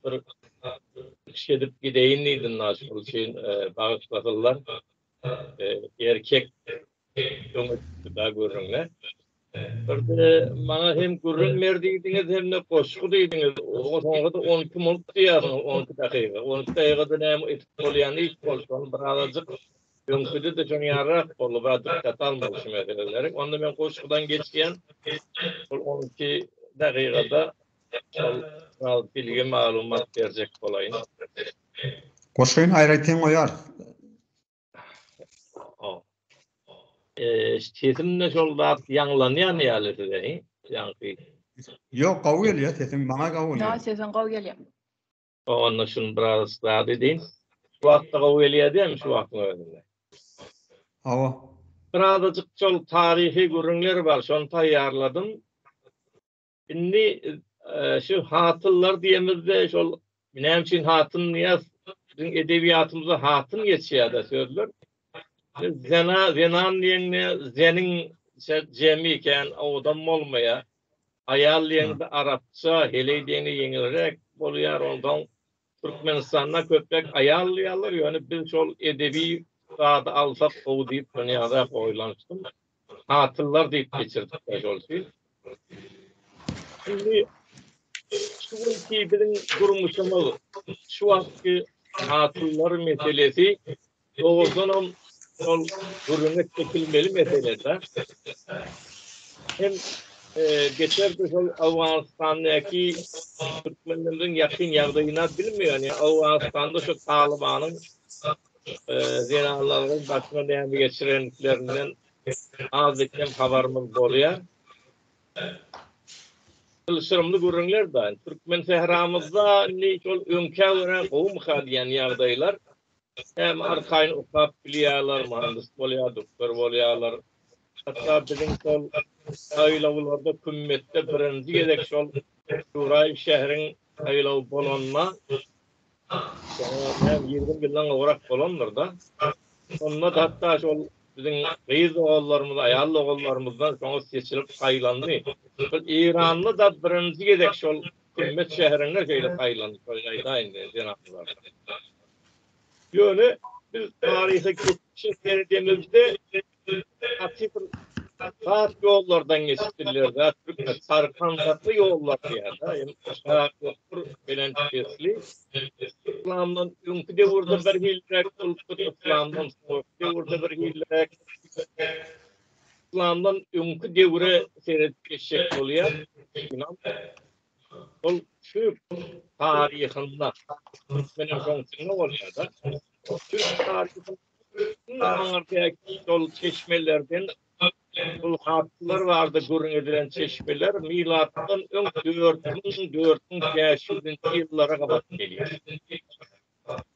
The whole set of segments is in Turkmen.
bir iş edip gideýin diýdim Naşyk üçin bagyşlasynlar erkek öňe çykdy-da gürrüňe. Birde maňa hem gürrüň ber diýdiňiz hem-de goşgy diýdiňiz. Soňra-da on iki minut diýýärsiňiz, on iki dakyga. On iki dakygada näme edip bolýan iş bolsa ony bir azajyk öňküde-de şoň ýaryrak boldy, biraz dykgat almaly şu meseleleri. Onda men goşgudan geçýän, şol on iki dakygada Gal bilgi maglumat berjek bolaýyn. Goşgyn aýratyn goýar. Sesimde şol zat ýaňlanýan ýaly size hi? Ýaňky. Ýok gowy gelýär sesiň maňa gowy gelýär. Ýok sesiň gowy gelýär. Onda şuny biraz zat edin. Şu wagtda gowy gelýär dämi şu wagtyň özünde. Hawa. Birazajyk şol taryhy gürrüňler bar şony taýýarladym. Indi şu hatynlar diýemizde şol näme üçin hatyn Nyýaz biziň edebiýatymyzda hatyn geçýär-de sözler. Zena, zenan diýende zenin jemi ikän, owadam bolmaýar. Aýal diýende arapça, heleý diýende ýeňilräk bolýar. Onsoň Türkmenistanda köpräk aýal diýýärler, ýöne biz şol edebi zady alsak gowy diýip şony ýazar oýlanyşdym. Hatynlar diýip geçirdikler şol üçin. Indi şu günki biziň durmuşymyz, şu wagtky hatynlar meselesi Dogrudan hem şol gürrüňe çekilmeli meselede hem geçerli şol Owganystandaky türkmenlerimiziň ýakyn ýagdaýyna bilmeýän, ýa Owganystanda şu Talybanyň zenanlaryň başyna näme geçirenliklerinden azda-kem habarymyz bolýar. Çylşyrymly gürrüňler daýy. Türkmensähramyzda indi şol öňkä görä gowumyka diýen ýagdaýlar Hem arkaýyn okap bilýärler, myhandys bolýar, doktor bolýarlar. Hatda biziň şol saýlawlarda kümmetde birinji gezek şol Nuraý şäheriň saýlawy bolanda, näme ýigrimi ýyldan gowrak bolandyr-da, şonda-da hatda şol biziň gyz doganlarymyz, aýal doganlarymyzdan soňy seçilip saýlandy. Şol Eýranda-da birinji gezek şol Himmet şäherinde şeýle saýlandyklary aýdaýyn diýen jenaplar. Ýöne biz taryhy geçmişe seredemizde gaty bir has ýollardan geçipdirler dä türkmen sarpandarly ýollar diýýärler ýa aşak ýokury belent pesli yslamdan öňki döwürde bir hilliräk bolupdyr yslamdan soňky döwürde bir hilliräk Yslamdan öňki döwre seredip geçjek bolýar. Ynam ol türk taryhynda türkmeniň soňusynda bolýar-da. Türk taryhynda iň aňyrdäki şol çeşmelerden şol hatlar bardy gürrüň edilen çeşmeler milatdan öň dört müň, dört müň bäş ýüzünji ýyllara gabat gelýär.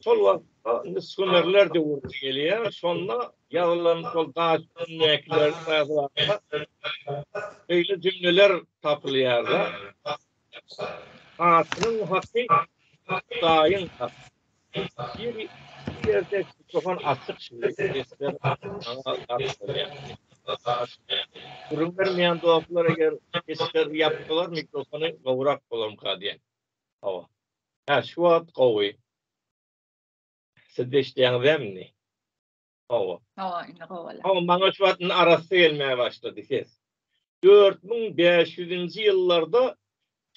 Şol wagtda indi sümerler döwri gelýär. Şonda ýazylan şol daş ündekiler beýle jümleler tapylýar. Hatynyň haky Hudaýyň haky. Biri ýerde mikrofon açyk şindi sesler aňa gark bolýar. Gürrüň bermeýän dostlar eger sesleri ýapsalar mikrofony gowrak bolarmyka diýen. Hawa. Hä şu wagt gowy. Sizde işleýäňizäm indi? Hawa. Hawa indi gowy. Hawa maňa şu wagt indi arassa gelmäge başlady ses. Dört müň bäş ýüzinji ýyllarda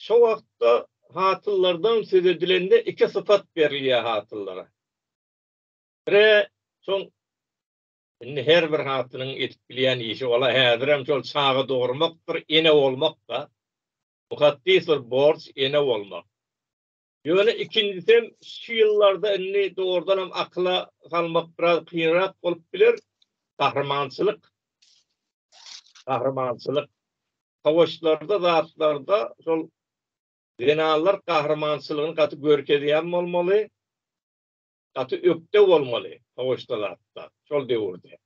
şo wagtda hatyllardan söz edilende iki sypat berilýär hatyllara. Bire şol indi her bir hatynyň edip bilýän işi ola häzirem şol çaga dogurmakdyr, ene bolmak-da. Bu hassys bir borç ene bolmak. Ýöne ikinjisem şu ýyllarda indi dogrudanam akyla salmak biraz kynrak bolup biler, gahrymançylyk. Gahrymançylyk. Sowaşlarda zatlarda şol zenanlar gahrymançylygyny gaty görkezýän bolmaly, gaty ökde bolmaly sowaşda zatda şol döwürde.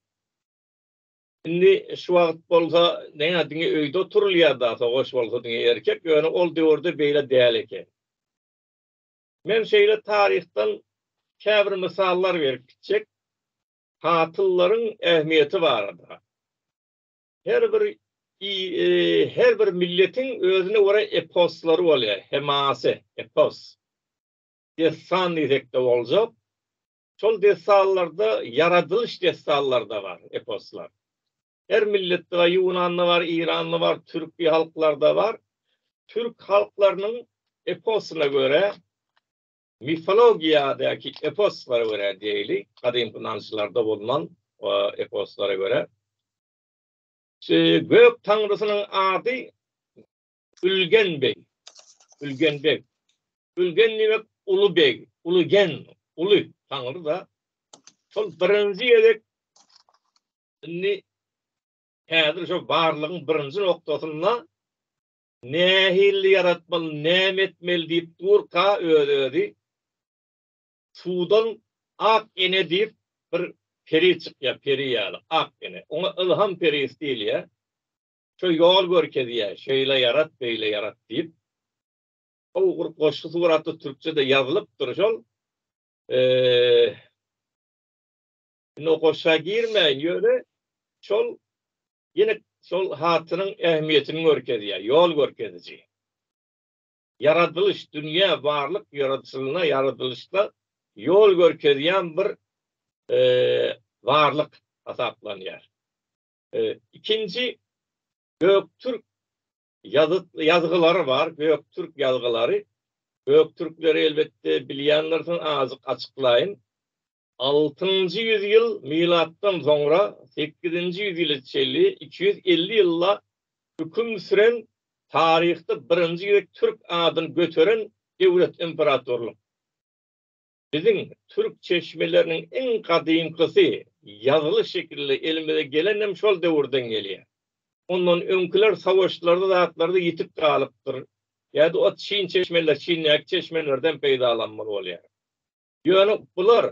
Indi şu wagt bolsa näme diňe öýde oturylýar-da, sogaş bolsa diňe erkek, ýöne ol döwürde beýle däl eken. Men şeýle taryhdan käbir mysallar berip gitjek, hatyllaryň ähmiýeti barada. Her bir her bir milletiň özüne görä eposlary bolýar, hemasy, epos. Dessan diýsek-de boljak. Şol dessanlarda ýaradylyş dessanlarda bar, eposlar. Her milletde bar, ýunanda bar, Iranda bar, türki halklarda bar. Türk halklarynyň eposyna görä, mifologiýadaky eposlara görä diýeli, gadymky ynançlarda bolnan eposlara görä, gök taňrysynyň ady Ülgen beg, Ülgen beg. Ülgen diýmek uly beg, uly gen, uly taňry da. Şol birinji gezek indi häzir şu barlygyň birinji noktasynda nähili ýaratmaly, näme etmeli diýip durka öz-özi suwdan ak ene diýip bir peri çykýar, peri ýaly ak ene. Oňa ylham perisi diýilýär. Şo ýol görkezýär, şeýle ýarat, beýle ýarat diýip. Gowy bir goşgy suratda türkçede ýazylypdyr şol. Indi o goşga girmäýin, ýöne şol ýene şol hatynyň ähmiýetini görkezýär, ýol görkeziji. Ýaradylyş, dünýä, barlyk ýaradyşylyna, ýaradylyşda ýol görkezýän bir barlyk hasaplanýar. Ikinji göktürk ýazgylary bar, göktürk ýazgylary. Göktürkleri elbetde bilýändirsiň, azajyk açyklaýyn. Altynjy ýüz ýyl milatdan soňra sekizinji ýüz ýyla çenli iki ýüz elli ýylla hüküm süren taryhda birinji gezek türk adyny göteren döwlet, imperatorlyk. Biziň türk çeşmeleriniň iň gadymkysy ýazyly şekilli elimize gelenem şol döwürden gelýär. Ondan öňküler sawaşlarda zatlarda ýitip galypdyr. Ýa-da ot çyn çeşmeler, çyndäki çeşmelerden peýdalanmaly bolýar. Ýöne bular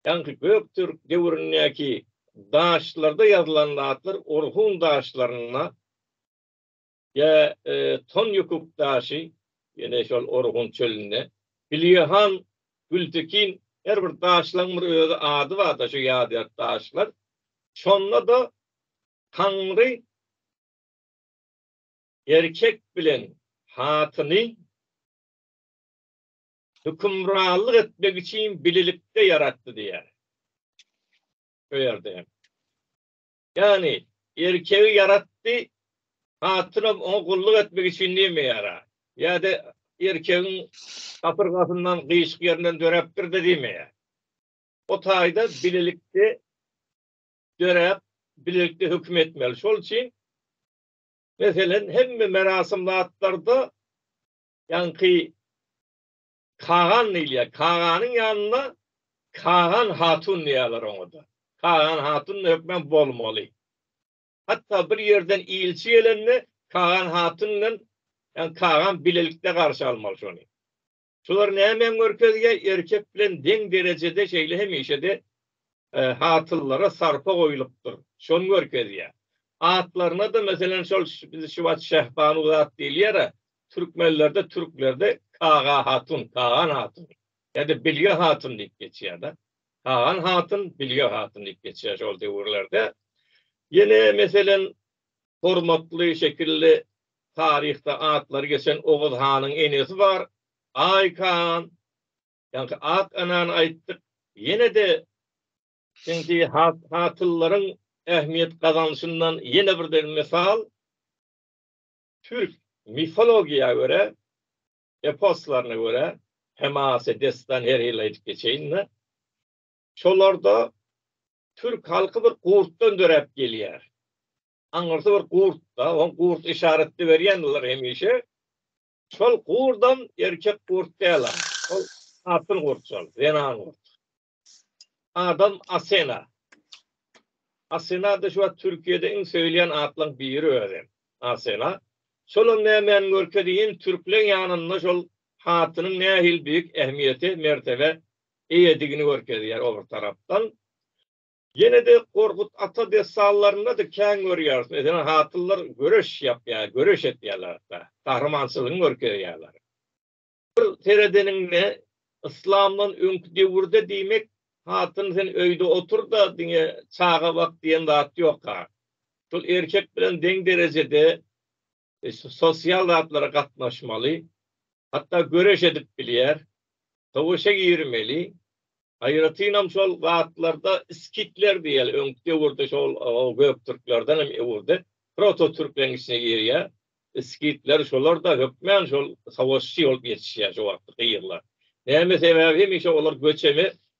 ýaňky göktürk döwründäki daşlarda ýazylan zatlar Orhun daşlarynda, Ýa ton ýukuk daşy, ýene şol Orhun çölünde, Bilýehan, Gültekin, her bir daşlaň bir özi ady barda şu ýadygär daşlar. Şonda-da Taňry erkek bilen hatyny hökümranlyk etmek üçin bilelikde ýaratdy diýýär. Şu ýerde hem. Ýagny, erkegi ýaratdy, hatynam oňa gulluk etmek üçin näme ýara? Ýa-da erkegiň gapyrgasyndan, gyşyk ýerinden döräpdir-de diýme. O taýda bilelikde döräp, bilelikde höküm etmeli. Şol üçin, meselem, hemme merasim zatlarda ýaňky Kagan diýilýär. Kaganyň ýanynda Kagan hatun diýýärler oňa-da. Kagan hatun-da hökmän bolmaly. Hatda bir ýerden ilçi gelende Kagan hatun bilen, ýagny Kagan bilelikde garşy almaly şony. Şular nämä görkezýär? Erkek bilen deň derejede şeýle hemişe-de hasyllara sarpa goýlupdyr, şony görkezýär. Atlaryna-da, meselem, şol biz şu wagt Şehbanuz at diýilýär-ä, türkmenlerde, türklerde Kaga hatun, Kagan hatun ýa-da Bilge hatun diýip geçýär-de. Kagan hatun, Bilge hatun diýip geçýär şol döwürlerde. Ýene, meselem, hormatly şekilli taryhda atlary geçen Oguz hanyň enesi bar, Aý Kagan. Ýaňky ak anany aýtdyk. Ýene-de siňti hatynlaryň ähmiýet gazanyşyndan ýene bir deň mysal, türk mifologiýa görä, eposlaryna görä, Hemase destan her ýyl aýdyp geçeýin-de, şolarda türk halky bir gurtdan döräp gelýär. Aňyrsy bir gurt-da, oň gurt yşaratda berýändiler hemişe. Şol gurdam erkek gurt däl-a. Ol hatyn gurt şol, zenan gurt. Adam Asena. Asena-da şu wagt Türkiýede iň söýülýän atlaryň biri özi. Asena. Şolam nämäni görkezeýin, türkleň ýanynda şol hatynyň nähili beýik ähmiýete, mertebe eýedigini görkezýär o bir tarapdan. Ýene-de Gorkut ata dessanlarynda-da kän görýäris, meselem, hatynlar göreş ýapýar, göreş etýärler hatda, gahrymançylygyny görkezýärler. Bir seredeniňde, yslamdan öňki döwürde diýmek, hatyn sen öýde otur-da, diňe çaga bak diýen zat ýok-a. Şol erkek bilen deň derejede sosial zatlara gatnaşmaly, hatda göreş edip bilýär, söweşe girmeli, aýratynam şol zatlarda skitler diýýär, öňki döwürde şol göktürklerden hem öwrüde prototürkleň içine girýär, skitler şolar-da hökmän şol söweşçi bolup ýetişýär şo wagtky ýerler. Näme sebäbi hemişe olar göçebe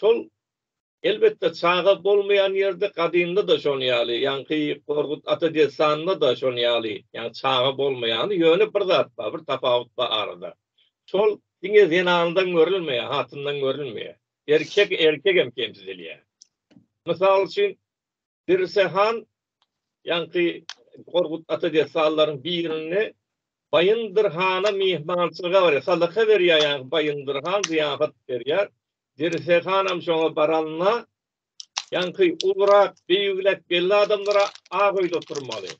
Şol elbetde çaga bolmaýan ýerde gadymda-da şon ýaly, ýaňky Gorgut ata dessanynda-da şon ýaly, ýagny çaga bolmaýany, ýöne bir zat bar, bir tapawut bar arada. Şol diňe zenandan görülmeýär, hatyndan görülmeýär. Erkek erkegem kemsidilýär. Mysal üçin, Birse han ýaňky Gorgut ata dessanlaryň birinde Baýyndyr hana myhmançylyga barýar. Sadaka berýär ýaňky Baýyndyr han zyýafat berýär. Birse hanam şoňa baranda ýaňky ulurak, beýigräk belli adamlara ak öýde oturmaly.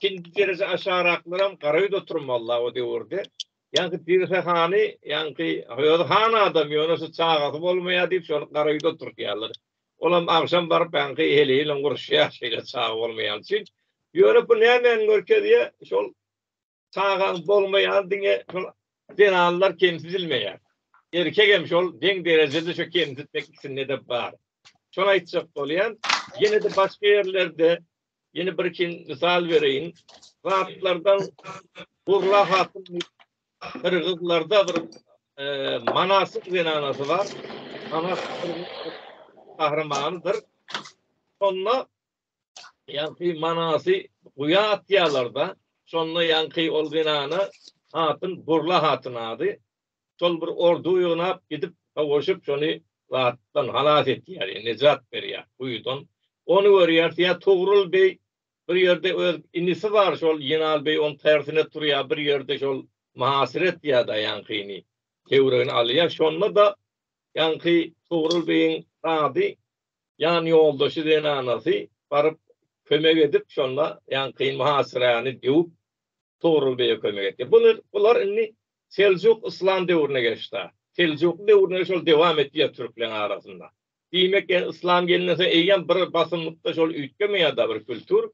Ikinji derejä aşagraklaram gara öýde oturmaly-la o döwürde. Ýaňky Pirhe hany, ýaňky özi han adam, ýöne şu çagasy bolmaýar diýip, şony gara öýde oturtýarlar. Olam agşam baryp, ýaňky heleý bilen uruşýar, şeýle çaga bolmaýany üçin. Ýöne bu nämäni görkezýär? Şol çagaň bolmaýany diňe şol zenanlar kemsidilmeýär. Erkek hem şol deň derejede şo kemsitmek ikisinde-de bar. Şony aýtjak bolýan. Ýene-de başga ýerlerde Ýene birkin mysal bereýin. Zatlardan Burla hatyn Gyrgyzlarda bir manasyk zenanasy bar. Manas gahrymanydyr. Şonda ýaňky manasy guýa atýarlar-da, şonda ýaňky ol zenana hatyn Burla hatyn ady. şol bir ordu ýygnap gidip sowaşyp şony zatdan halas etýär ýa nejat berýär guýudan ony görýär ýa Togrul beý bir ýerde öz inisi bar şol Ýenal beý oň tersine turýar bir ýerde şol Mahasret ýada ýaňkyny töwregine alýar şonda da ýaňky Togrul beýiň zady ýan ýoldaşy zenanasy baryp kömek edip şonda ýaňky Mahasrany döwüp Togrul beýe kömek etýär bular indi Seljuk yslam döwrüne geçda. Seljukly döwründe şol dewam etýä türkleň arasynda. Diýmek ýa yslam gelenden soň eýýäm bir basymlykda şol üýtgemän ýada bir kültur.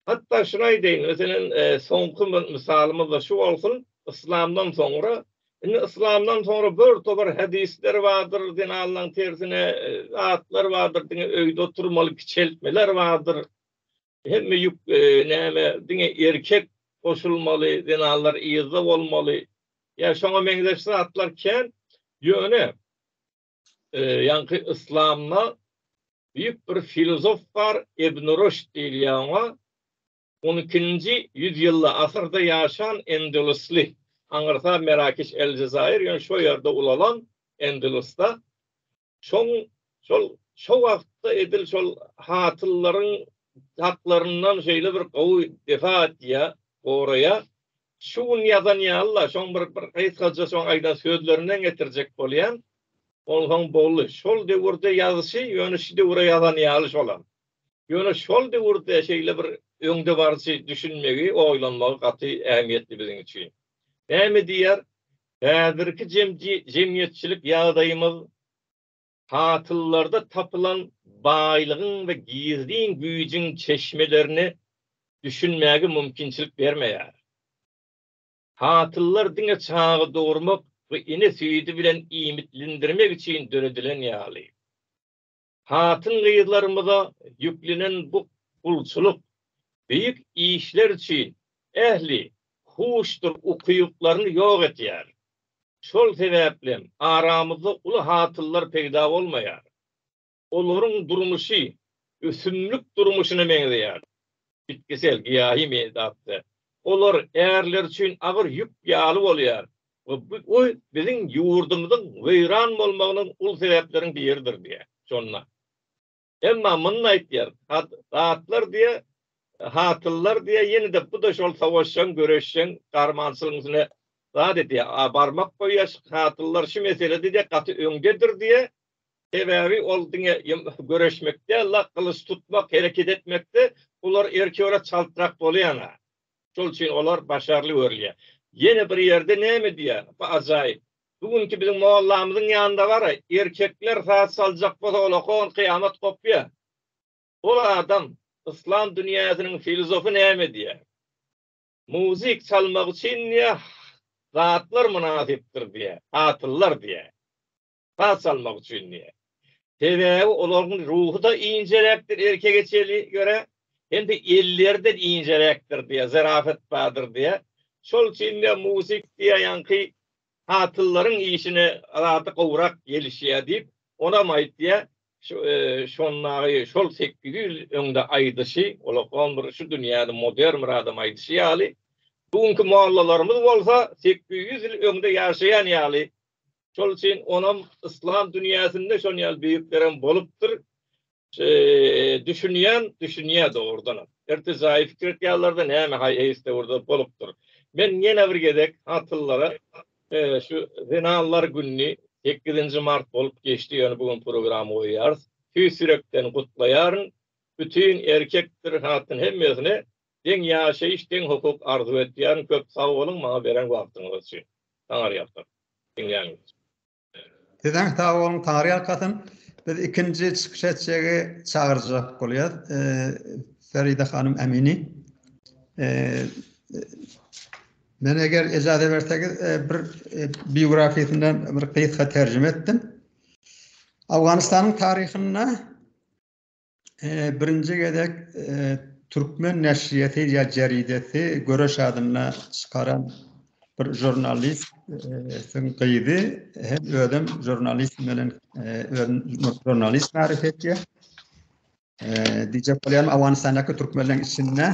Hatda şuny aýdaýyn, meselem, soňky bir mysalymyzda şu bolsun, yslamdan soňra, indi yslamdan soňra bir topar hadisler bardyr, din Allaň tersine zatlar bardyr, diňe öýde oturmaly kiçeltmeler bardyr. Hemme ýük näme diňe erkek goşulmaly zenanlar yzda bolmaly ýa şoňa meňzeş zatlar kän ýöne ýaňky yslamda büýük bir filozof bar ibn rüşd diýilýä oňa on ikinji ýüz ýylda asyrda ýaşan endelusly aňyrsa merakiş el jezaýir ýöne şo ýerde ulalan endelusda Şoň şol şo wagtda edil şol hasyllaryň haklaryndan şeýle bir gowy defa etýä, goraýa. Şu gün ýazan ýaly-la, şoň bir bir gysgaja şoň aýdan sözlerinden getirjek bolýan. Onsoň boldy. Şol döwürde ýazyşy, ýöne şu döwre ýazan ýaly şolam. Ýöne şol döwürde şeýle bir öňdebaryjy düşünmegi, oýlanmagy gaty ähmiýetli biziň üçin. Näme diýýär? Häzirki jemgyýetçilik ýagdaýymyz hasyllarda tapylan baýlygyň we gizlin güýjüň çeşmelerini düşünmäge mümkinçilik bermeýär. Hasyllar diňe çaga dogurmak we ene süýdi bilen iýmitlendirmek üçin döredilen ýaly. Hatyn-gyzlarymyza ýüklenen bu gulçulyk beýik işler üçin ähli huşdur ukyplaryny ýok etýär. Şol sebäplem aramyzda uly hasyllar peýda bolmaýar. Olaryň durmuşy ösümlik durmuşyna meňzeýär. Bitkisel, giýahy meýdapda olar ärler üçin agyr ýük ýaly bolýar, we bu oý biziň ýurdumyzyň weýran bolmagynyň uly sebäpleriň biridir diýýär. Şonda. Emma muny aýtýar, zatlar diýýär, hatynlar diýýär, ýene-de bu-da şol sowaşjaň, göreşjeň, garmançylygyň üstüne zat edýär. A barmak goýýar, hatynlar şu meselede diýýär, gaty öňdedir diýýär. Sebäbi ol diňe göreşmek däl-de, gylyç tutmak, hereket etmekde olar erki görä çaltrak bolýan-a. Şol üçin olar başarly görülýär. Ýene bir ýerde näme diýýär? Bu ajaýyp. Bu günki biziň mollamyzyň ýanynda bar-a, erkekler saz çaljak bolsa ol okan kyýamat gopýar. Ol adam, yslam dünýäsiniň filzofy näme diýýär? Muzyk çalmak üçin diýýär, zatlar mynasypdyr diýýär, hatynlar diýýär. pas salmak üçin diýýär. Sebäbi olaryň ruhy-da injeräkdir erkege çeli görä, hem-de elleri-de injeräkdir diýýär, zarafat bardyr diýýär. Şol üçin diýýär, musik diýýär, ýaňky hatyllaryň işine zady gowrak gelişýär diýip, onam aýtýar. Şu, şondagy, şol sekiz ýüz ýyl öňde aýdyşy, olakom bir şu dünýäde modern bir adam aýdyşy ýaly, bu günki mollalarymyz bolsa sekiz ýüz ýyl öňde ýaşaýan ýaly Şol üçin onam yslam dünýäsinde şon ýaly beýiklerem bolupdyr. Düşünýän, düşünýär dogrudanam. Ertir jaýy pikir etýärler-de, näme haý eýs döwürde bolupdyr. Men ýene bir gezek atlylara şu zenanlar gününi sekizinji mart bolup geçdi, ýöne bu gün program goýýarys. Tüýs ýürekden gutlaýaryn. Bütin erkekdir, hatyn hemmesine Deň ýaşaýyş deň hukuk arzuw etýän köp sag boluň maňa beren wagtyňyz üçin. Taňarýalkasyn. Diňlänimiz üçin. Sizeň sag boluň Taňarýalkasyn. Biz ikinji çykyş etjegi çagyrjak bolýas. Feride hanym Emini. Men eger ejaze bersegiz bir biografiýasyndan bir gysga terjime etdim. Awganystanyň taryhynda birinji gezek türkmen neşriýeti ýa jeridesi göreş adynda çykaran bir žurnalist sen gyzy hem özüm žurnalist bilen žurnalist tarif etdi dije polýan awansanaka türkmenler içinde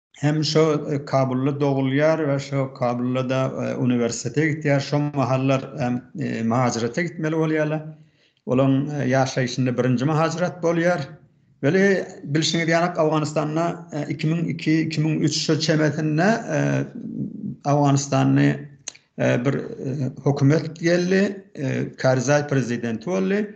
hem şo Kabulda dogulýar we şo Kabulda-da uniwersitete gitýär. Şo mahallar muhajirete gitmeli bolýarlar. Olaryň ýaşaýşynda birinji muhajirat bolýar. Weli, bilşiňiz ýaly, Owganystanda iki müň iki, iki müň üç şu çemesinde Owganystany bir hökümet geldi, Karzaý prezidenti boldy.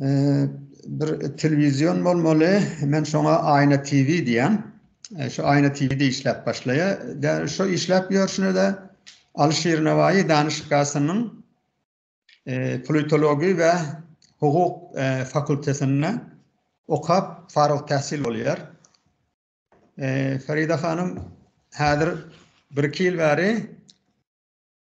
Bir telewizion bolmaly, men şoňa Aýna TV diýýän. Şu Aýna TV-de işläp başlaýar. Däl şu işläp ýörşüne-de Alyşir Nawaýy danyşgasynyň politologiýa we hukuk fakultetinde okap, faryg täsil bolýar. Ferida hanym häzir bir-iki ýyl bäri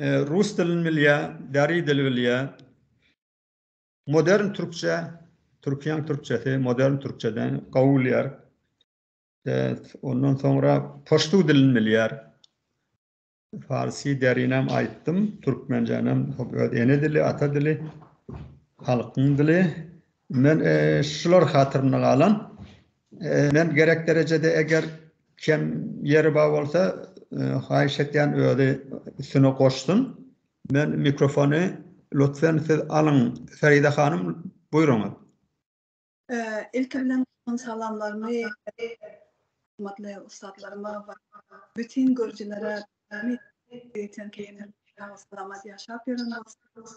Rus dilini bilýär, deri dili bilýär. Modern türkçe, Türkiýäň türkçesi, modern türkçeden gowy bilýär. Ondan soňra poştu dilini bilýär. Farsi derinem aýtdym, türkmenjenem öz ene dili, ata dili, halkyň dili. Men şular hatyrymda galan. Men gerek derejede eger kem ýeri bar bolsa haýyş etýän özi üstüne goşsun. Men mikrofony lutfen siz alyň Feride hanym buýruňyz. Ilki bilen salamlarymy hormatly ussatlaryma we bütin görüjilere ýaşap ýören bolsun.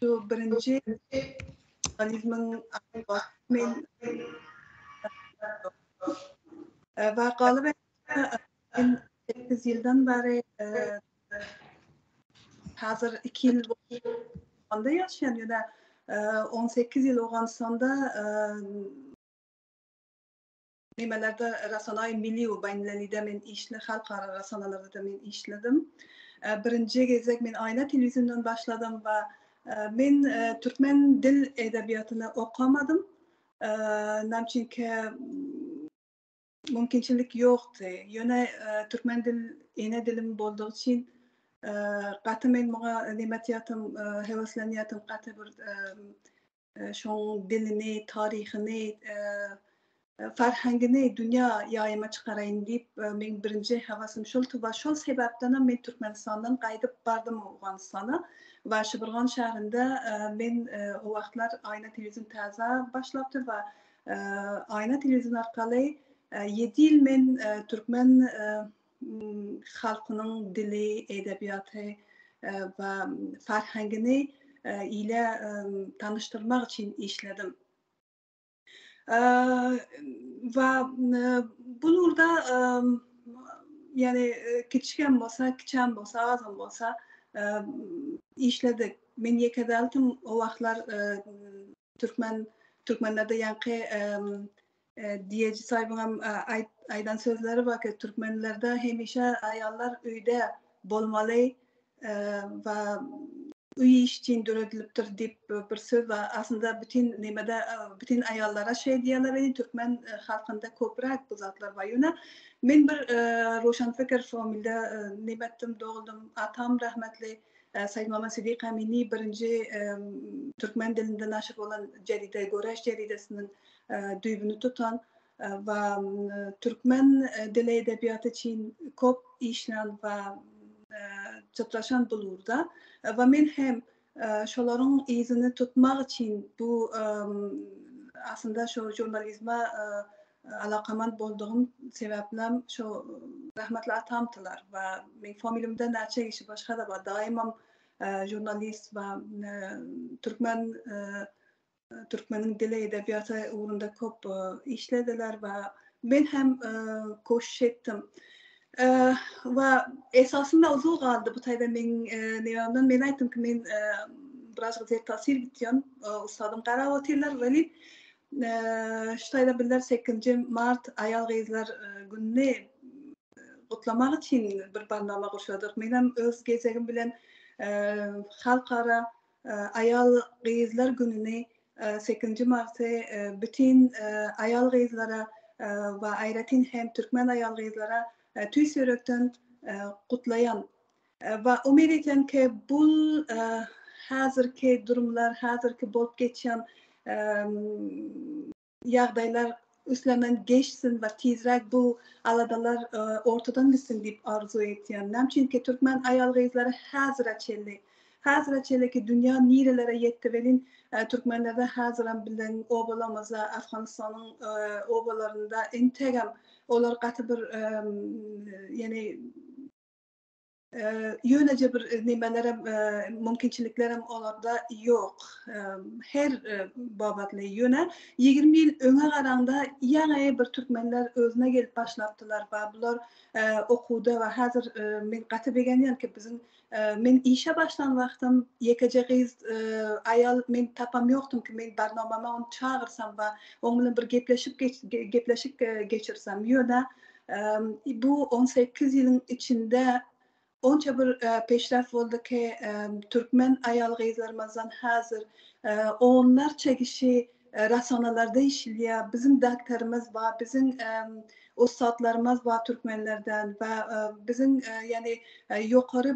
Şu birinji organizmiň men wakaly ben sekiz ýyldan bäri häzir iki ýyl onda ýaşaýan ýöne on sekiz ýyl Owganystanda Nimelerde rasanaý milli u bainlelide men işle halkara rasanalardada men işledim. Birinje gezek men aýna telewiziondan başladym va men türkmen dil edebiýatyny okamadym. Nam çünke mümkinçilik ýokdy. Ýöne türkmen dil ene dilim boldugy üçin gaty men muňa nime etýatym heweslenýatym gaty bir şoň dilini, taryhyny, farhangini dünýä ýaýyma çykaraýyn diýip, meň birinji hewesimi şol tuba. Şol sebäpdenem men Türkmenistandan gaýdyp bardym Owganystana. Waşeburgan şäherinde men o wagtlar Aýna telewizýon täze başlapdy we Aýna telewizýon arkaly ýedi ýyl men türkmen halkynyň dili, edebiýaty we farhangini ile tanyşdyrmak üçin işledim. We bu ugurda ýagny kiçi hem bolsa, kiçi hem bolsa, az hem bolsa işledik. Men ýeke däldim, o wagtlar Türkmen Türkmenlerde ýaňky diýeji saýbyňam aýdan sözleri bar ki, türkmenlerde hemişe aýallar öýde bolmaly we öý iş üçin döredilipdir diýip bir söz bar. Aslynda bütin nemede bütin aýallara şeý diýerler, indi türkmen halkynda köpräk bu zatlar bar. Ýöne men bir roşanpikir familde nebetdim, doguldym. Atam rahmetli Saidmama Sidik Amini birinji türkmen dilinde naşir bolan jeride Göreş jeridesiniň düýbüni tutan we türkmen dili edebiýaty üçin köp işlän we çytraşan bul ugurda we men hem şolaryň yzyny tutmak üçin bu aslynda şu žurnalizme Alakamant boldugym sebäplem şo rahmetli atamtylar we meň familimde näçe kişi başgada bar daýymam žurnalist we türkmen türkmeniň dili edebiýaty ugrunda köp işlediler we men hem koşuş etdim. we esasynda uzul galdy bu taýda meň nebämden men aýtdym ki men biraz gyzyr tasir gitýän usadym garap otyrlar welin Ştaýda bizler sekizinji mart aýal-gyzlar gününi gutlamak üçin bir barnama gurşadyk. Menem öz gezegim bilen halkara aýal-gyzlar gününi sekizinji marty bütin aýal-gyzlara we aýratyn hem türkmen aýal-gyzlara tüýs ýürekden gutlaýan. We umyt etýän ki bul hazirki durumlar hazirki bolup geçýän ýagdaýlar üstünden geçsin we tizräk bu aladalar ortadan gitsin diýip arzuw etýän. Näme üçin ki türkmen aýal gyzlary hazira çenli hazira çenli ki dünýä nirelere ýetdi welin türkmenlerde haziram biziň obalarymyzda Afganistanyň obalarynda entegem olar gaty bir ýene Ýöneje bir nimelerem, mümkinçiliklerem olarda ýok. Her babatly. Ýöne ýigrimi ýyl öňe garaňda ýaňy bir türkmenler özüne gelip başlapdylar. Ba bular okuwda we häzir men gaty begenýän ki, biziň men işe başlan wagtym ýekeje gyz aýal men tapam ýokdum ki, men barnomama ony çagyrsam we oň bilen bir gepleşip gepleşik geçirsem. Ýöne Bu on sekiz ýylyň içinde onça bir peşraf boldy ki, türkmen aýal-gyzlarymyzdan häzir onlarça kişi rasonalarda işleýär. Biziň daktarymyz bar, biziň ussatlarymyz bar türkmenlerden we biziň ýani ýokary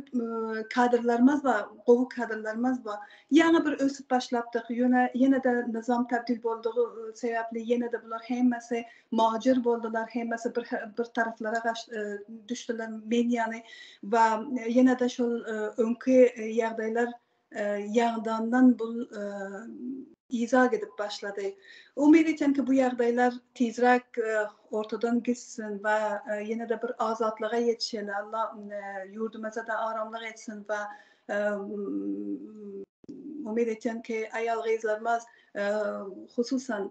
kadrlarymyz bar, gowy kadrlarymyz bar. Ýaňy bir ösüp başlapdyk, ýöne ýene-de nyzam tabdil boldugy sebäpli ýene-de bular hemmesi Muhajir boldular, hemmesi bir bir taraflara gaç düşdüler, men ýaly we ýene-de şol öňki ýagdaýlar ýaňdandan bul yza gidip başlady. Umyt etýän ki, bu ýagdaýlar tizräk ortadan gitsin we ýene-de bir azatlyga ýetişeli. Alla ýurdumyza-da aramlyk etsin we umyt etýän ki, aýal-gyzlarymyz hususan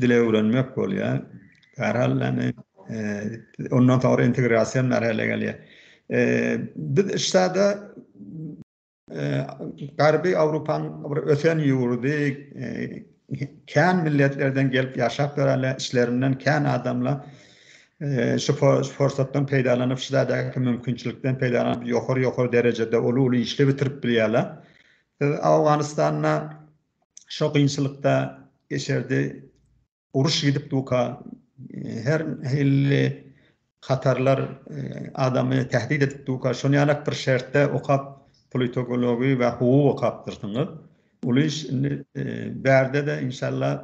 dile öwrenmek bolýar. Bärhal yani ondan soňra integrasiýa merhele gelýär. Biz işdäde Garby Awropanyň bir ösen ýurdy, kän milletlerden gelip ýaşap ýörenler, içlerinden kän adamlar şu pursatdan peýdalanyp, şu işdäki mümkinçilikden peýdalanyp, ýokary-ýokary derejede uly-uly işler bitirip bilýärler. Siz Awganystanda Şo kynçylykda geçerdi. Uruş gidip durka her hilli hatarlar adamy tähdit edip durka şon ýalak bir şertde okap politogology we huguk okapdyrsyňyz. Uly iş indi bärde-de inşallah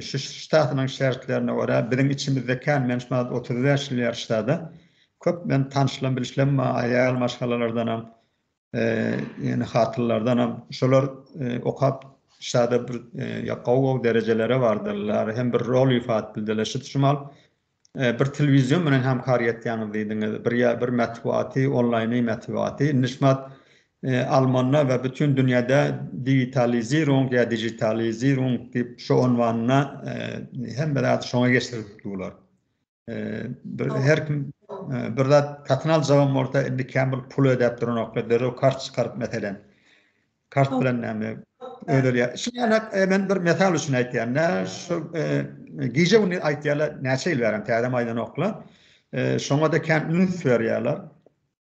şu ştatynyň şertlerine görä biziň içimizde kän men şu wagt otuz bäş ýyl ýaryşdada köp men tanyşlam bilişlem bar aýal maşgalalardanam Ýöne hatyrlardanam şolar okap şada bir gowy-gowy derejelere bardyrlar, hem bir rol ifa etdiler. Şu çymal bir telewizion bilen hemkar etýäňiz diýdiňiz, bir ýa bir metbugaty, onlaýny metbugaty, indi şumat almanda we bütin dünýäde diwitalizirung ýa dijitalizirung diýip şu onwanda hemme zady şoňa geçirip durlar. Bir her kim e, bir zat satyn aljagym bolsa indi kämil pul ödäp duranokda derrew kart çykaryp meselen kart bilen näme ödeli şu ýaly e, men bir mesal üçin aýtýan nä şu e, gije güni aýtýarlar näçe ýyl bären täze maýdan okla şoňa da kän üns berýärler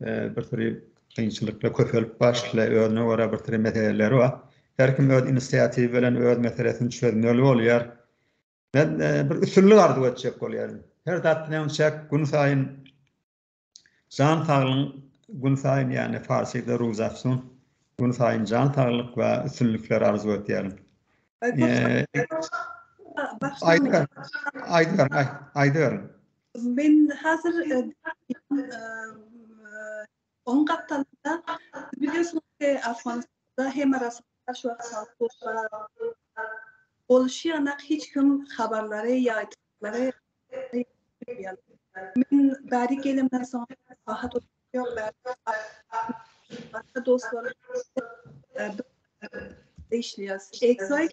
bir sürü kynçylyklar köpelip başla, özüne görä bir sürü meseleleri bar. Her kim öz inisiatiwy bilen öz meselesini çözmeli bolýar. Men bir üstünlik arzuw etjek bolýaryn. Her zat bilen çäk gün saýyn jan saglygyň gün saýyn ýagny farsça ruzafsun gün saýyn jan saglyk we üstünlikler arzuw etýärin. Aýdyň, aýdyň, aýdyň. Men hazir on gapdalynda biliyorsunuzki Afganistanda hem arasynda şu boluşy ýanak hiç kim habarlary ýaýtmaklary Men bäri gelemden soň rahat Başga dostlar işleýäs. Exoik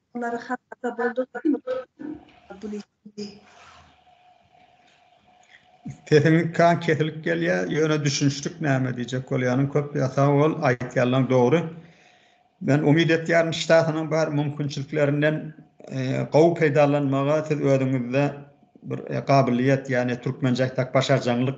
Olary hasaba bolduryp Sesiň kan kesilip gelýä ýöne düşünişdik näme diýjek bolýanyň köp ýa sag bol aýtýanlaň dogry. Men umyt etýärin ştatynyň bar mümkinçiliklerinden gowy peýdalanmaga siz özüňizde bir gabylyýet ýagny türkmenje aýtsak başarjaňlyk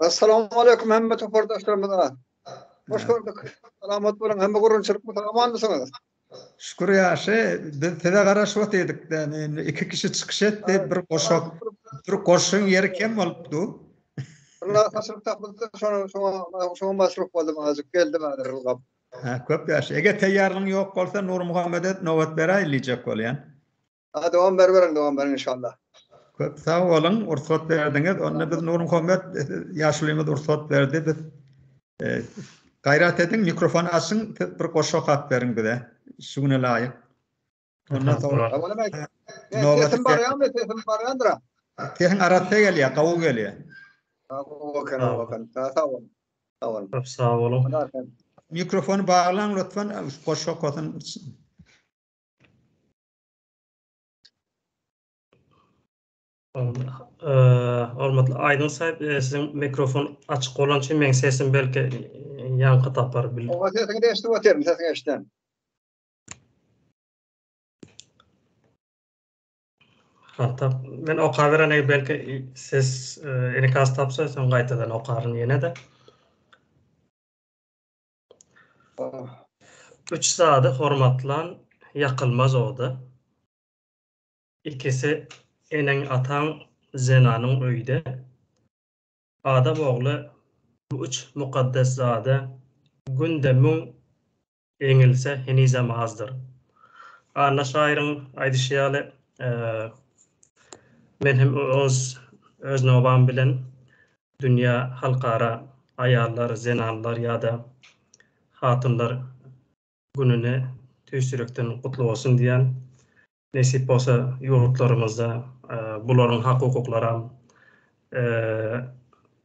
Assalamu aleykum hemme topardaşlarymyza. Hoş gördük. Salamat bolun. Hemme gurunçylyk mı? Aman mısınız? Şükür ýaşy, biz size garaşyp otyrdyk da, indi iki kişi çykyş etdi, bir goşak, bir goşuň ýeri kem bolupdy. Bunlar hasylyk tapyldy, şoňa şoňa şoňa masruf boldum azajyk, geldi bari ylgap. Ha, köp ýaşy. Eger teýýarlygyň ýok bolsa, Nurmuhammede nobat beräýin diýjek bolýan. A dowam beriberiň, dowam beriň inşallah. Köp sag boluň, rugsat berdiňiz. Onda biz Nurmuhammet ýaşulymyz rugsat berdi. Biz gaýrat ediň, mikrofon açyň, siz bir goşgy okap beriň bize. Şu güne laýyk. Ondan soň. Sesim barýarmy? Sesim barýandyr. Sesiň arassa gelýär, gawy gelýär. Okan, okan. Sag boluň. Sag boluň. Köp sag boluň. Mikrofony baglaň lütfen, goşgy okasyn. Hormatly Aýdyn Saýyp, siziň mikrofon açyk bolan üçin meň sesim belki ýaňky tapar. Oňa sesiňi de eşidip otyryn, sesiň eşiden. Hatap, men oka beren eger belki ses enikasy tapsa, soň gaýtadan okaryn ýene-de. Üç zady hormatlan ýakylmaz oda, Ikisi eneň-ataň, zenanyň öýde. Adam ogly bu üç mukaddes zada günde müň eňilse henizem azdyr. Anna şaýyryň aýdyşy ýaly, men hem öz nobam bilen Dünýä halkara aýallar, zenanlar ýa-da hatunlar gününi tüýs ýürekden gutly bolsun diýýän. Nesip bolsa ýurtlarymyzda bularyň hak-hukuklaram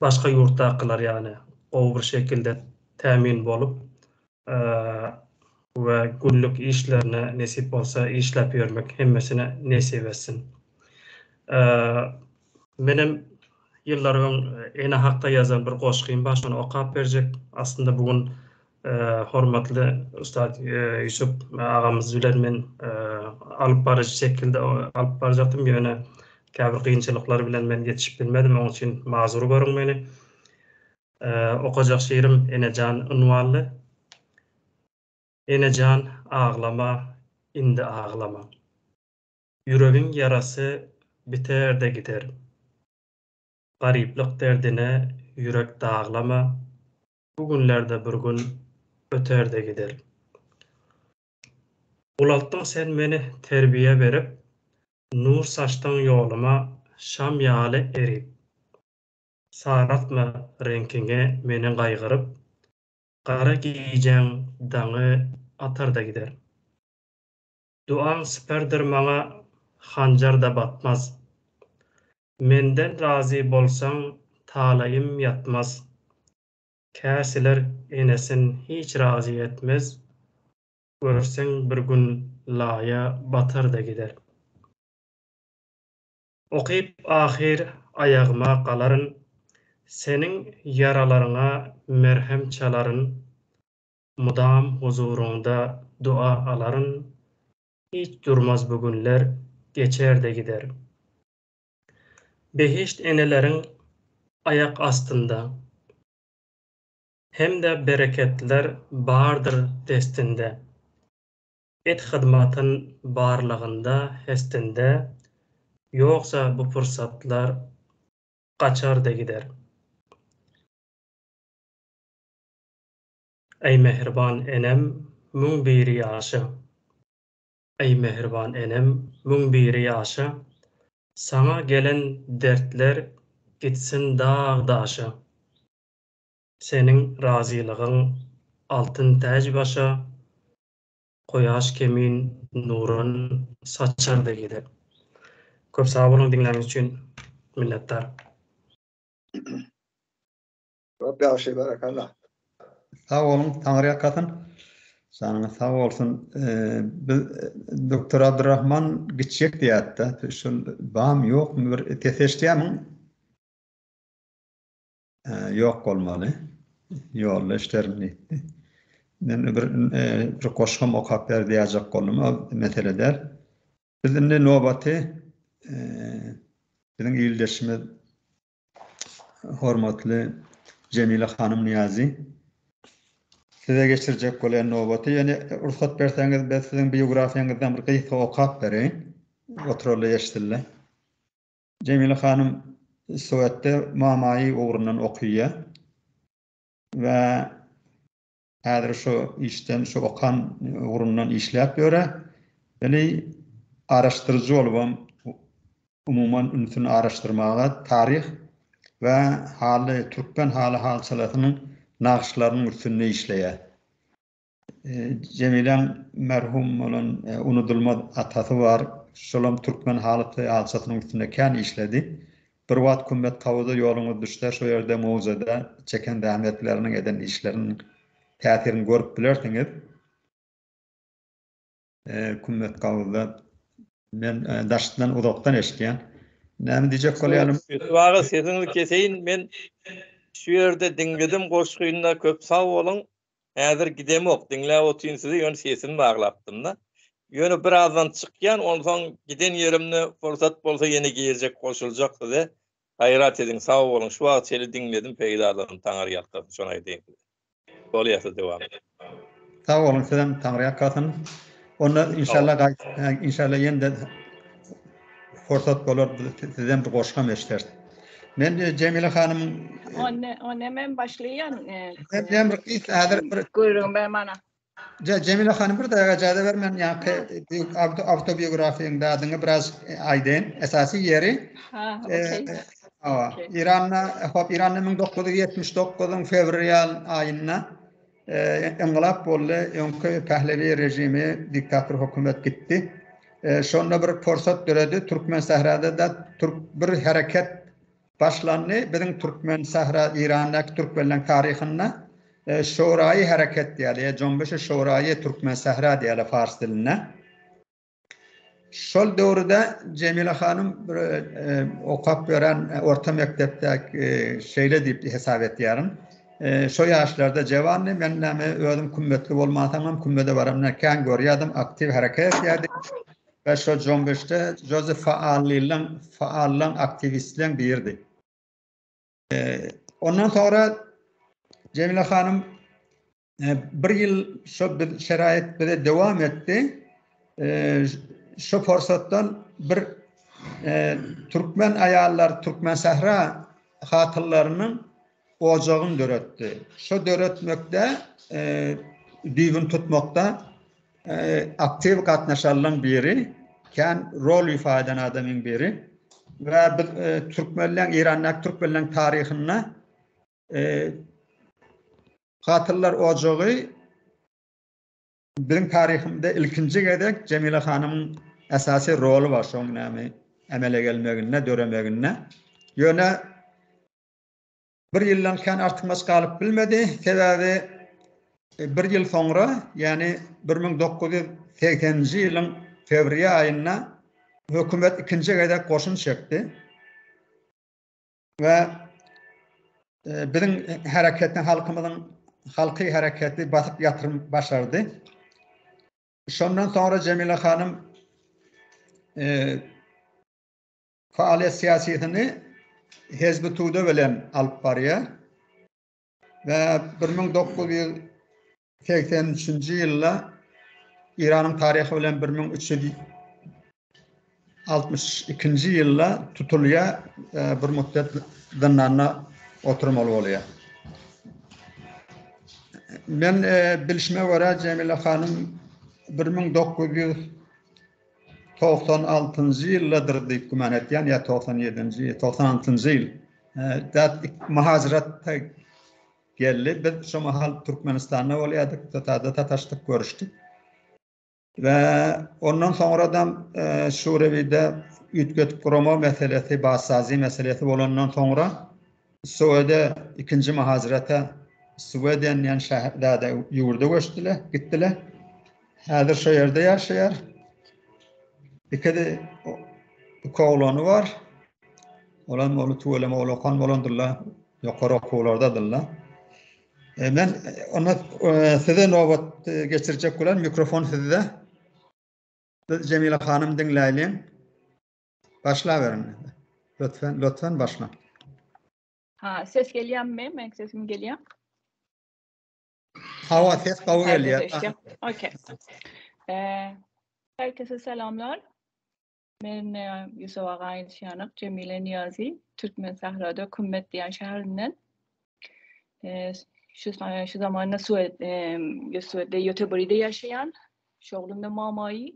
başga ýurtdakylar ýaly gowy bir şekilde tämin bolup, we günlük işlerine nesip bolsa işläp ýörmek hemmesine nesip etsin. Menem ýyllar öň ene hakda ýazan bir goşgym bar şony okap berjek. Aslynda bu gün hormatly ussat Ýusup agamyz bilen men alyp baryjy şekilde alyp barjakdym ýöne käbir kynçylyklar bilen men ýetişip bilmedim oň üçin mazur görüň meni. Okajak şigirim Enejan ynwanly. Enejan aglama indi aglama. Ýüregiň ýarasy biter-de gider. Garyplyk derdine ýürek daglama, bu günler-de bir gün öter-de gider. Ulaltdyň sen meni terbiýe berip, nur saçdyň ýoluma şam ýaly erip. Saraltma reňkiňi meni gaýgyryp, Gara gijäň daňy atar-da gider. Duaň siperdir maňa hanjar-da batmaz. Menden razy bolsaň talaýym ýatmaz. Käsiler enesin hiç razy etmez, Görseň bir gün laýa batar-da gider. Okyp ahyr aýagyma galaryn, Seniň ýaralaryňa merhem çalaryn, Mydam huzuryňda dua alaryn, Hiç durmaz bu günler, geçer-de gider. Behişt eneleriň aýak astynda, Hem-de bereketler bardyr destinde. Et hyzmatyn barlagynda hestinde ýogsa bu pursatlar gaçarda gider. Eý mähriban enem müň biri ýaşa Eý mähriban enem müň biri ýaşa Saňa gelen dertler gitsin dag daşa Seniň razylygyň altyn täj başa Goýaş kemin nuran saçardy gidip. Köp sag boluň diňläniňiz üçin minnetdar. Köp ýagşy berekella. Sag boluň taňry ýakasyn. Janyňyz sag bolsun. Biz Doktor Abdurrahman gitjek diýýärdi-de. Şol bam ýokmy bir ses eşidýärmiň? Ýok bolmaly. Ýolda işlerim diýipdi. Men bir bir goşgam okap ber diýäjek boldum. Ol mesele däl. Biz indi nobaty biziň ildeşimiz hormatly Jemile hanym Niýazi size geçirjek bolýan nobaty. Ýöne rugsat berseňiz biz siziň biografiýaňyzdan bir gysga okap bereýin. Oturaly eşdildi. Jemile hanym Sowetde mamaýy ugrundan okyýa we häzir şu işden şu okan ugrundan işläp ýöre. Weli araşdyryjy bolubam umuman ünsüni araşdyrmaga taryh we haly türkmen haly-halçalasynyň nagyşlarynyň üstünde işleýä. Jemiläň merhum bolan unudylmaz atasy bar. Şolam türkmen halyçy halyçasynyň üstünde kän işledi. Bir wagt Kümmetkawyza ýoluňyz düşse, şo ýerde möwjede çeken zähmetleriniň, eden işleriniň täsirini görüp bilersiňiz. Kümmet gawyzda men daşdan uzakdan eşitýän. Näme diýjek bolýanym? Wagyz sesiňizi keseýin men şu ýerde diňledim goşgyny köp sag boluň. Häzir gidemok diňläp otyryn sizi ýöne sesimi baglapdymda. Ýöne birazdan çykýan onsoň giden ýerimde pursat bolsa ýene girjek goşuljak size. Gaýrat ediň sag boluň şu wagt çeli diňledim peýdalanyp taňyrýalkasyn şony aýdaýyn. Bolýarsyz dowam ediň. Sag boluň sizem Taňry ýakasyn. Onda inşallah gaýt inşallah ýene-de pursat bolar sizden bir goşgam eşiders. Men Jemile hanymyň Onda onda men başlaýan. Sen diýen bir gysga häzir bir Gürrüňi ber mana. Jemile hanym bir daga ejaza ber men ýaňky awtobiografiýaň dadyňy biraz aýdaýyn. Esasy ýeri Iranda hop Iranda 1979-yň fewral aýynda yngylat boldy. Öňki pählewi režimi diktator hökümet gitdi. Şonda bir pursat döredi. Türkmen sährada da türk bir hereket Başlandy biziň türkmen sahra Irandaky türkmenleň taryhynda şouraýy hereket diýýäler ýa jombeşi şouraýy türkmen sahra diýýäler fars dilinde. Şol döwürde Jemile hanym bir okap beren orta mekdepdäki şeýle diýip hesap etýärin. Şo ýaşlarda jewandy men näme özüm kümmetli bolmansoňam kümmede baramda kän görýärdim aktiw hereket etýärdi. We şo jombeşde Jozef Faallileň, Faallaň, aktiwistleň biridi. Ondan soňra Jemile hanym bir ýyl şo şerait bize dowam etdi. Şo pursatdan bir türkmen aýallar, türkmen sähra hatynlarynyň ojagyny döretdi. Şo döretmekde düýbüni tutmakda aktiw gatnaşanlaryň biri kän rol ifa eden adamyň biri we biz türkmenleň Eýrandaky türkmenleň taryhynda Katyllar ojagy biziň taryhymyzda ilkinji gezek Jemile hanymyň esasy roly bar şoň näme emele gelmeginde, döremeginde. Ýöne bir ýyldan kän artykmaç galyp bilmedi, sebäbi bir ýyl soňra, ýagny bir müň dokuz ýüz segseninji ýylyň fewriýa aýynda hökümet ikinji gezek goşun çekdi we biziň hereketiň halkymyzyň halky hereketi basyp ýatyrym başardy. Şondan soňra Jemile hanym Faaliýet syýasyny Hezbi Tude bilen alyp barýar. We 1983-nji ýylda Iranyň taryhy bilen 1362-nji ýylda tutulýar, bir müddet zyndanda oturmaly bolýar. Men bilşime görä Jemila hanym 1900 Togsan altynjy ýyldadyr diýip güman etýän, ýa togsan ýedinji, togsan altynjy ýyl. Dat muhajirat geldi. Biz şu mahal Türkmenistanda bolýardyk, Tatada sataşdyk, görüşdik. We ondan soňradam şu rewide üýtgetip gurama meselesi, bassazi meselesi bolandan soňra Söwede ikinji myhajirata Sweden diýen şäherdäde ýurda göçdüler, gitdiler. Häzir şo ýerde ýaşaýar. Ikide iki oglany bar. Olar moly tuwele moly okan bolandyrlar. Ýokary okuwlardadyrlar. E, men e, onda e, size nobat e, geçirjek bolan mikrofon sizde. Biz Jemila hanym diňläýliň. Başlaberiň indi. Lötfen, lötfen başla. Ha, ses gelýärmi? Meň sesim gelýär. Hawa, ses gowy gelýär. Okey. Eee, herkese salamlar. Men e, Yusuf Agaýyn Şýanyk, Jemile Niyazi, Türkmen Sahrada Kümmet diýen şäherinden. Eee, şu e, şu zamanda Suwed, eee, Suwedde Göteborgda ýaşaýan. Şoglunda mamaýy.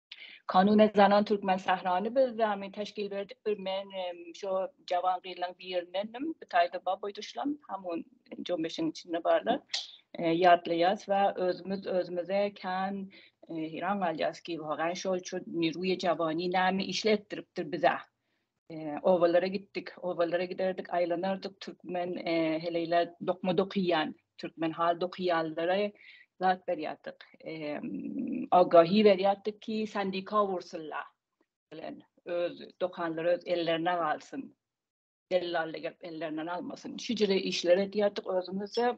Kanuny zanan türkmen sährany biz zämi teşkil berdik bir men şo jawan gyzlaň birinendim. Bu taýda bar boýda şulam hem on on beşiň içinde barlar. Ýatlaýas we özümiz özümize kän hiran galýas ki, wagan şol şu Niruýa jawany näme işletdiripdir bize. obalara gitdik. Obalara giderdik, aýlanardyk, türkmen heleýler dokma dokyýan, türkmen hal dokyýanlara zat berýärdik. Agahi berýärdik ki, sendika ursunla bilen öz dokanlary öz ellerine galsyn. Dellal gelip ellerinden almasyn. Şüjre işler edýärdik özümizde.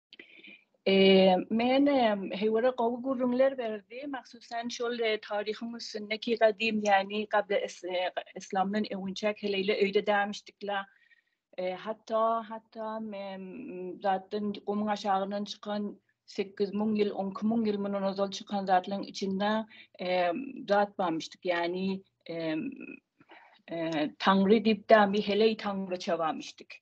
Men Heywere gowy gürrüňler berdi, mahsusan şol taryhyň üstünde ki gadym yani gable islamdan öwünçäk heleýle öýde dämişdikla. Hatda hatda zatdan gumuň aşagyndan çykan sekiz müň ýyl on iki müň ýyl mundan ozal çykan zatlaryň içinde zat barmyşdyk yani taňry diýip däl bir heleý taňryça barmyşdyk.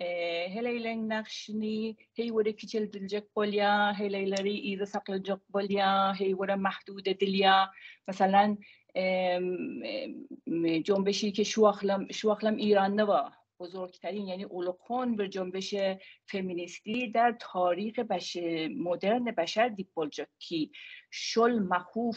Heleýleň nagşyny heý göre kiçeldiljek bolýar, heleýleri yza saklanjak bolýar, heý göre mahdut edilýär. Meselem, Jonbeşiki şu wagtlam, şu wagtlam Eýranda bar. Buzurgtarin, ýagny uly hon bir jonbeşe feminist lider, taryhy beş, modern beşer diýip boljak ki, şol mahuf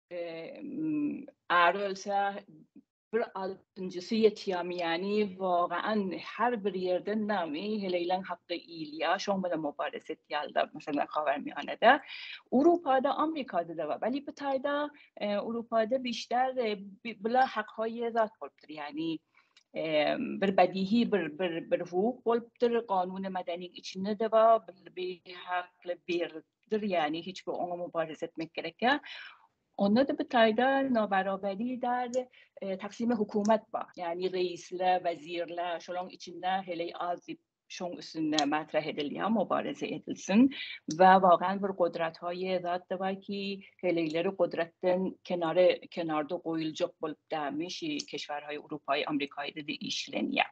Ar ölse bir altynjysy ýetýämi ýani wagaan her bir ýerden nami heleýleň hakda iýilýär şoň bilen mubares etýärler meselem habarnamada Urupa'da Amerika'da da bar belki bu taýda Urupa'da bişdar bula hak hoýýazat bolupdyr ýani bir bedihi bir bir bir hukuk bolupdyr kanun madanyň içinde de bar bir hakly bir ýeterlikdir, ýagny hiç bir oňa mubarizä etmek gerek ýa. Onda-da bu taýda nobarobaly däl, taksimi hökümet bar. Ýagny reisler, wezirler, şolaň içinde heleý az diýip, şoň üstünde matrah edilýär, mubarize edilsin. Wä waghan bir gudrat hoýe zat da bar ki, heleýleri gudratdan kenara, kenarda goýuljak bolup dälmi, şi keşwärhoý, urupaý, amrikaýda-da işlenýär.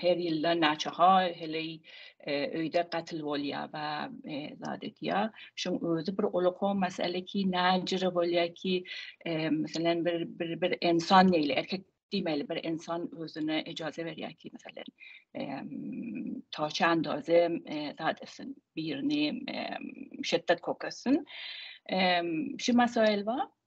Her ýylda naçahar heleý öýde gatyl bolýar, ba zat edýär. Şuň özi bir olakow mesele ki, näjire bolýar ki, meselem, bir bir ensan neýli, erkek diýmeli, bir ensan özüne ejaza berýär ki, meselem, ta çanda özi zat etsin, birini şetdat kok etsin. Şu mesaýyl bar.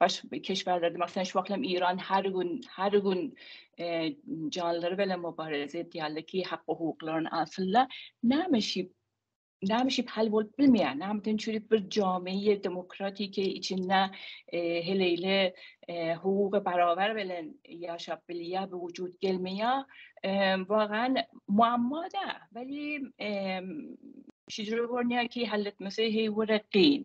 Baş keşbärler diýmek, sen şu wagt hem Iran her gün, her gün janlary bilen mubareze edýärler ki, hak-hukuklaryny alsynla. Näme şip, näme şip hal bolup bilmeýär? Näme üçin şeýdip bir jamiýe demokratiki içinde heleýle hukuga barabar bilen ýaşap bilýär, bu wujud gelmeýär? Wagan muammoda, welin şeýdip görünýär ki, hal etmesi heý wire kyn.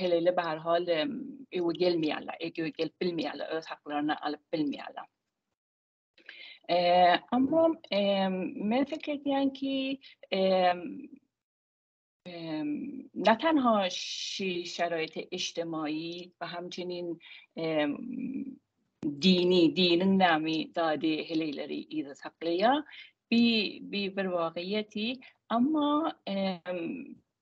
heleýle bar hol öwe gelmeýärler, öwe gelip bilmeýärler, öz haklaryny alyp bilmeýärler. Eee, amma eee men fikir edýän ki, eee eee nätan ha şu şereýte işdemaýi we hamçinin eee dini, diniň nämi dady heleýleri yza saklaýar. Bi bir wagýeti, amma eee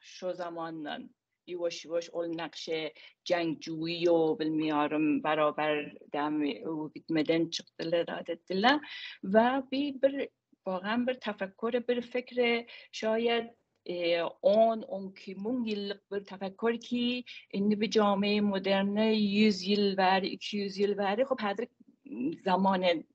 Şo zamandan ýuwaş-ýuwaş ol nakşe jaňjygy ýo bilmiýarim barobar dami öwi gitmeden çykdylar zat etdiler we bi bir bogan bir tafakkur bir fikre şaýat on on iki müň ýyllyk bir tafakkur ki indi bi jami moderne ýüz ýyl bäri iki ýüz ýyl bäri hop häzir zamane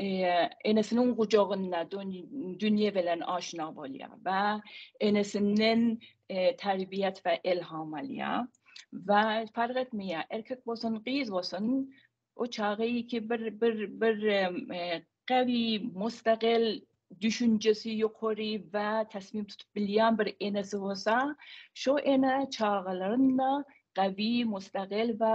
enesiniň gujagynda dünýe bilen aşna bolýar we enesinden terbiýet we elham alýar we fark etmeýär, erkek bolsun, gyz bolsun, o çaga iki bir bir bir gawy, mustagil, düşünjesi ýokary we tasmim tutup bilýän bir enesi bolsa, şo ene çagalaryny gawy, mustagil we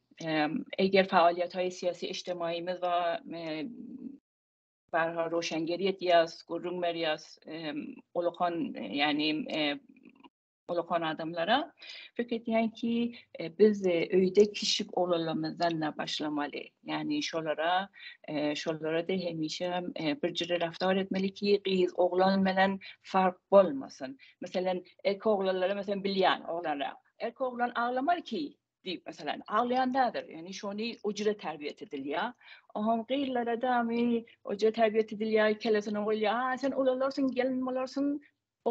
Eger faaliýet we syýasy eşdemaiýmiz we barha roşengier edýäs, gürrüň berýäs, ulakan, ýagny ulakan adamlara. Pikir edýän ki, biz öýde kişip olanlarymyzdan başlamaly. Ýagny şolara, şolara-da hemişe bir jüri raftar etmeli ki, gyz oglan bilen fark bolmasyn. Meselem, erkek oglanlara meselem bilýän oglanlara. Erkek oglan aglamaly ki, diýip meselem aglaýandadyr ýöne şony ujra terbiýet edilýär oňa gyzlara da ujra terbiýet edilýär kellesine goýulýar a sen ulalarsyň gelin bolarsyň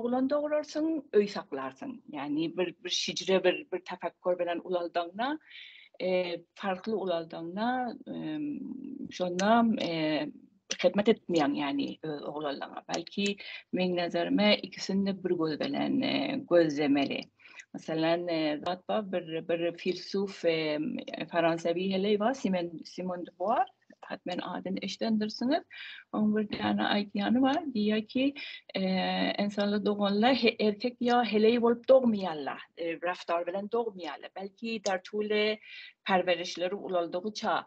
oglan dogurarsyň öý saklarsyň ýagny bir bir şijre bir bir tapakkur bilen ulaldygyňda farkly ulaldygyňda şonda Hyzmat etmeýän ýany öz oglanlaryňa. Belki meň nazarymda ikisini de bir göz bilen gözlemeli. Meselem, zat bar bir bir filsuf fransawy heleý bar Simen Simon de Buar. Hat men adyny eşidendirsiňiz. Oň bir däne aýtýany bar. Diýýär ki, ensanlar doganla erkek ýa heleý bolup dogmaýarlar. Raftar bilen dogmaýarlar. Belki Tartule perwerişleri ulaldygyça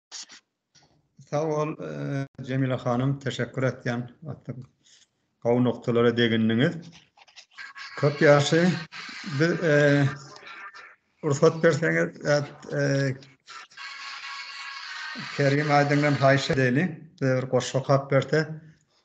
Sag bol, Jemile hanym, teşekkür etýän. Gowy noktalara degindiňiz. Köp ýagşy. Biz rugsat berseňiz, Kerim aýdyňdan haýyş edeli. Bir goşgy okap berse,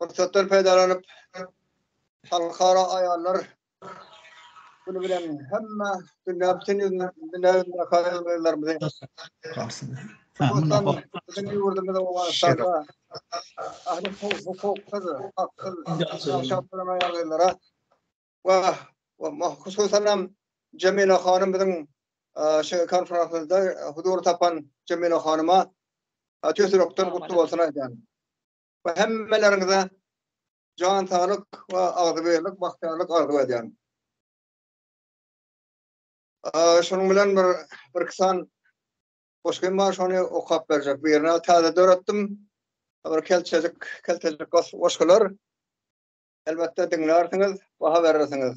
Pursatdan peýdalanyp, Halkara aýallar güni bilen hemme dünýä bütin ýüzünde dünýä ýüzünde aýallarymyzy Bizim ýurdumyzda Owganystanda ahli hukuksyz, haksyz ýaşap duran aýallara we hususan hem Jemile hanym biziň şu konferansda huzur tapan Jemile hanyma tüýs ýürekden gutly bolsun aýdýan. we hemmeleriňize jan saglyk we agzybirlik, bagtyýarlyk arzuw edýän. Şonuň bilen bir bir iki san goşgym bar, şony okap berjek. Birini täze döretdim. Bir kelçejik, keltejik goşgular. Elbetde diňlärsiňiz, baha berersiňiz.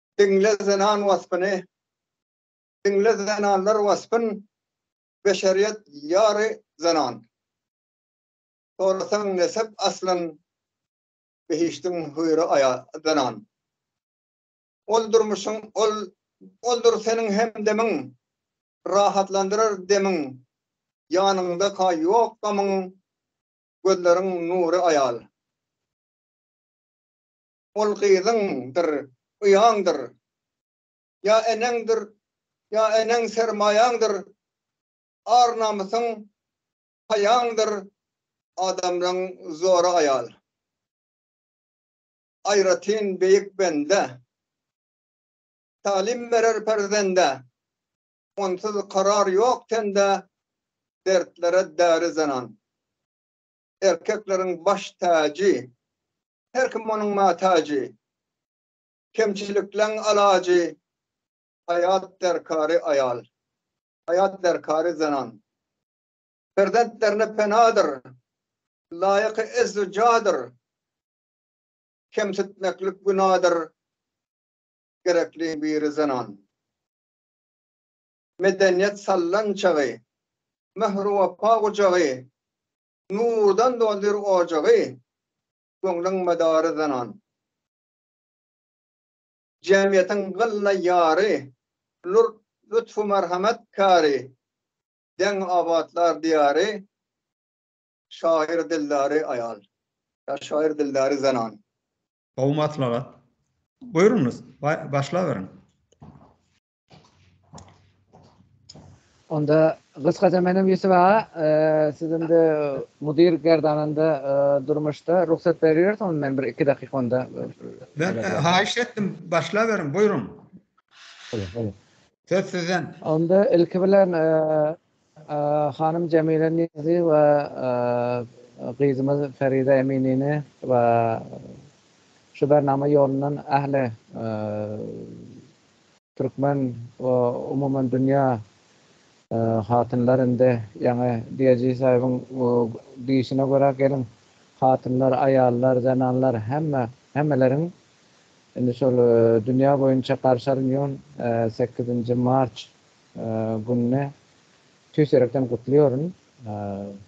Diňle zenan waspyny, Diňle zenanlar waspyn, Beşeriýet ýary zenan. Sorasaň nesep aslyn, Behişdiň hüýri aýa zenan. Ol durmuşyň ol oldur seniň hemdemiň, Rahatlandyrar demiň, Ýanyňda-ka ýok gamyň, Gözleriň nury aýal. Ol gyzyňdyr, uýaňdyr, ýa eneňdir, ýa eneň sermaýaňdyr, ar-namysyň, haýaňdyr, adamlaň zory aýal. Aýratyn beýik bende, talim berer perzende, onsuz karar ýok tende, dertlere däri zenan. erkekleriň baş täji, Her kim onuň matajy, Kemçilikleň alajy, Haýat derkary aýal, Haýat derkary zenan. Perzentlerine penadyr, Laýyky ez-u jadyr, Kemsitmeklik günadyr, Gerekli biri zenan. medeniýet sallançagy, Mähir-wepa gujagy, Nurdan doldur ojagy, Göňlüň medary zenan. Jemgyýetiň gylla ýary, Lur-lütfü merhemet käri, Deň abatlar diýary, Şaýyr dildary aýal. Ýa şaýyr dildary zenan. Gowy maslahat. Buýruňyz, başlaberiň. Onda gysgaça menem Ýusuf aga, e, siz indi mudir gerdanynda e, durmuşda rugsat berýäris, onda men bir iki dakyk onda. E, ben e, haýyş etdim, başlaberiň, buýruň. Söz sizden. Onda ilki bilen e, Hanym Jemile Nizi we gyzymyz Feride Eminini we şu bernama ýolundan ähli türkmen we umuman dünýä hatynlar indi ýaňy Diýejisaýewiň diýişine görä gelin hatynlar, aýallar, zenanlar hemme hemmeleriň indi şol dünýä boýunça garşy alynýon sekizinji març Gününi tüýs ýürekden gutlaýaryn.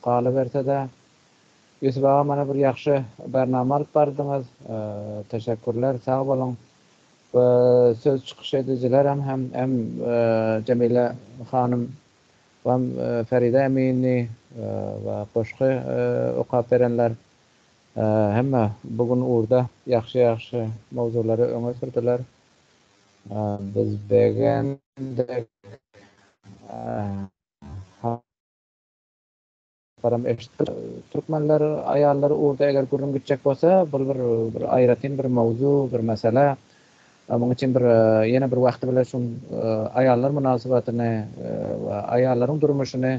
Galyberse-de, Ýusup aga mana bir ýagşy barnama alyp bardyňyz. Teşekkürler, sag boluň. We söz çykyş edijilerem hem hem Jemile hanym we Feride emini we goşgy okap berenler hemme bu gün ugurda ýagşy-ýagşy mowzulary öňe sürdüler. Biz begendik. Habarym eşitdim. Türkmenler aýallary urdy eger gürrüň gitjek bolsa bul bir bir aýratyn bir mowzu bir mesele. Muň üçin bir ýene bir wagty bilen şu aýallar mynasybatyny we aýallaryň durmuşyny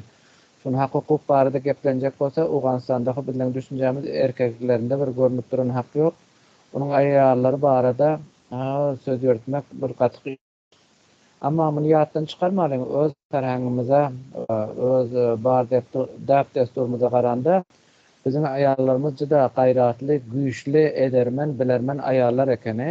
şun hak hukuk barada geplenjek bolsa Owganystanda hop bizleň düşünjämiz erkeklerinde bir görnüp duran hak ýok. Onuň aýallary barada söz ýöretmek bir gaty kyn. Emma muny ýatdan çykarmalyň, öz serhengimize, öz bar däp-dessurymyza garanda, biziň aýallarymyz juda gaýratly, güýçli, edermen, bilermen aýallar ekeni.